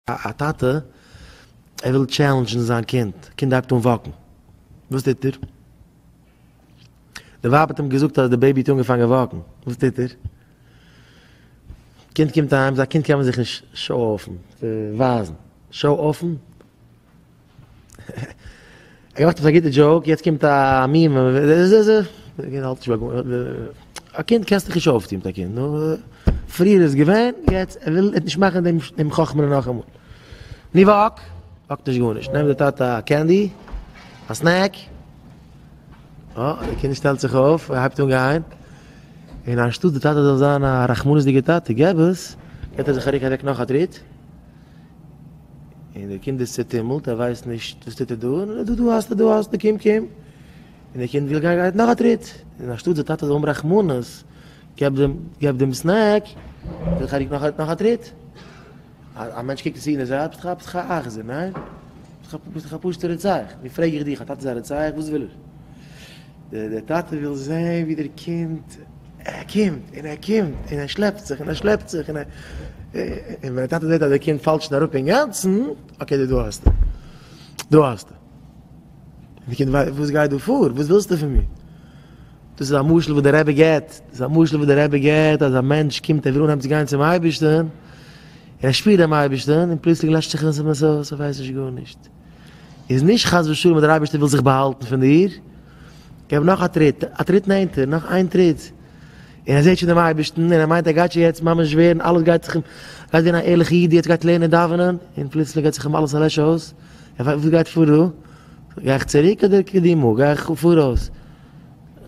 א טאטע, ער וויל טשעלענדזשן זיין קינד, קינד הייבט אן וואקן, וואס טוט ער? די ווייב האט אים געזאגט אז די בעיבי האט אנגעפאנגען וואקן, וואס טוט ער? קינד קומט אהיים, ביי א קינד קען מען זיך נישט שאו-אפן, ווייזן, שאו-אפן? איך האב געמאכט עפעס א גוטע דזשאוק, יעצט קומט א מימ. א קינד קענסטו נישט אויפטון מיט א קינד. פריער איז געווען, יעצט ער וויל נישט מאכן דעם חכמ'ענער נאכאמאל. ני וואק, וואקט נישט גארנישט. נעמט דער טאטע א קענדי, א סנעק. אה, דער קינד שטעלט זיך אויף, ער הייבט אן גיין. און אנשטאט דער טאטע זאל זיין א רחמנות'דיגער טאטע, געב עס, געט ער זיך א רוק אוועק נאך א טריט. און דער קינד איז צעטומלט, ער ווייסט נישט וואס טוט ער דא, און דא דא האסטו, דא האסטו, קום קום, און דער קינד וויל גיין גייט נאך א טריט, און אנשטאט די טאטע זאל האבן רחמנות, געב דעם, געב דעם סנעק, וויל חאריק נאך א, נאך א טריט. א מענטש קוקט עס אן און זאגט, ביסט ביסט דאך א אכזר, ניין? ביסט דאך א פשוט'ער רוצח. נו פרעג איך דיך, א טאטע איז א רוצח? וואס וויל ער? דער טאטע וויל זעהן ווי דער קינד קומט און ער קומט און ער שלעפט זיך און ער שלעפט זיך און ווען דער טאטע זעהט אז דער קינד פאלט שוין אראפ אינגאנצן אקעי דא דא האסטו דא האסטו די קינד ווייסט וואס גייט דא פאר וואס ווילסטו פון מיר דאס איז א משל וואס דער רבי געבט דאס איז א משל וואס דער רבי געבט אז א מענטש קומט ער וויל אנהייבן צו גיין צום אייבערשטן און ער שפירט דעם אייבערשטן און פלוצלינג לעשט זיך עס אים אויס ער ווייסט נישט גארנישט איז נישט חס ושלום אז דער אייבערשטער וויל זיך באהאלטן פון דיר, איך האב נאך א טריט, א טריט נענטער, נאך איין טריט, און ער זעט שוין דעם אייבערשטן, און ער מיינט ער גייט שוין יעצט ממש ווערן, אלעס גייט זיך אים, גייט ווערן א ערליכע איד, יעצט גייט לערנען דאווענען, און פלוצלינג גייט זיך אים אלעס א לעש אויס, ער פרעגט וואס גייט פאר דא, גיי איך צוריק אדער קדימה, גיי איך פאראויס,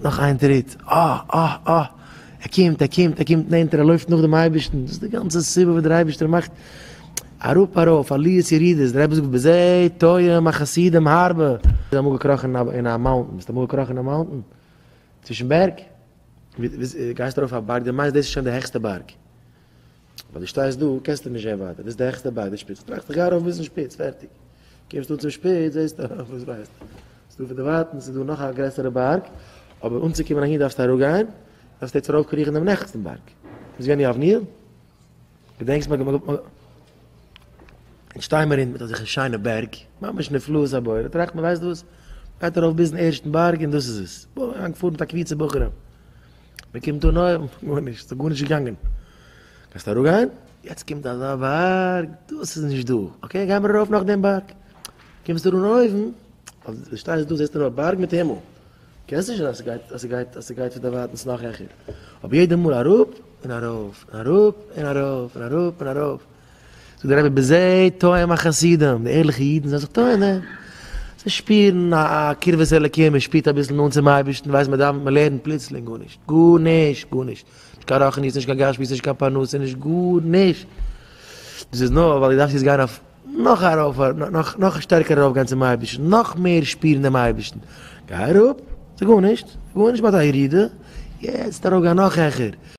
נאך איין טריט, אה אה אה, ער קומט, ער קומט, ער קומט נענטער, ער לויפט נאך דעם אייבערשטן, דאס איז די גאנצע סיבה וואס דער אייבערשטער מאכט, אראפ ארויף עליות ירידות, דער רבי זאגט בזה טועם החסידים הרבה, ביסט אמאל געקראכן אין א מאונטען? ביסט אמאל געקראכן אין א מאונטען? צווישן בערג? גייסט ארויף א בארג, דו מיינסט דאס איז שוין די העכסטע בארג, ווייל דו שטייסט דא קענסטו נישט זען ווייטער, דאס איז די העכסטע בארג, די שפיץ, טראכסט איך גיי ארויף ביזן שפיץ, פערטיג, קומסט אן צום שפיץ זעסטו ארויף, וואס ווייסטו, ס'איז דא פונדערווייטענס איז דא נאך א גרעסערע בארג, אבער אנצוקומען אהין דארפסטו אראפגיין, דארפסטו יעצט ארויפקריכן דעם נעכסטן בארג, ביסט געווען אין יבניאל? געדענקסט מיר געמאכט א. אונז שטיי מיר אין מיט אזעלכע שיינע בערג, ממש נפלאות הבורא, טראכט מען ווייסט וואס, גייט ארויף ביזן ערשטן בארג און דאס איז עס, בוים אריין געפארן מיט א קבוצה בחורים, מען קומט אן אויבן, גארנישט, ס'איז גארנישט געגאנגען, קענסט אראפ גיין? יעצט קומט אזא בארג, דאס איז נישט דא, אקעי גיימער ארויף נאך דעם בארג, קומסט אן אויבן, אויף די שטייסט דא זעסטו נאר בארג מיט הימל. קענסט נישט זען אז ס'גייט אז ס'גייט אז ס'גייט פון דערווייטענס נאך העכער, אבער יעדע מאל אראפ און ארויף און אראפ און ארויף און אראפ און ארויף. זאגט דער רבי בזה טועם החסידים, די ערליכע אידן זענען זיך טועם דעם, זיי שפירן א א קרבת אלקים, מען שפירט אביסל נאנט צום אייבערשטן, מען ווייסט מען דאווענט מען לערנט, פלוצלינג גארנישט, גארנישט, גארנישט, נישט קיין רוחניות, נישט קיין גשמיות, נישט קיין פרנסה, נישט גארנישט, דאס איז נאר ווייל דו דארפסט יעצט גיין אויף נאך ארויף, נאך שטערקער ארויף גיין צום אייבערשטן, נאך מער שפירן דעם אייבערשטן, גיי אראפ, ס'איז גארנישט, גארנישט, מ'האט א ירידה, יעצט ארויף גיין נאך העכער.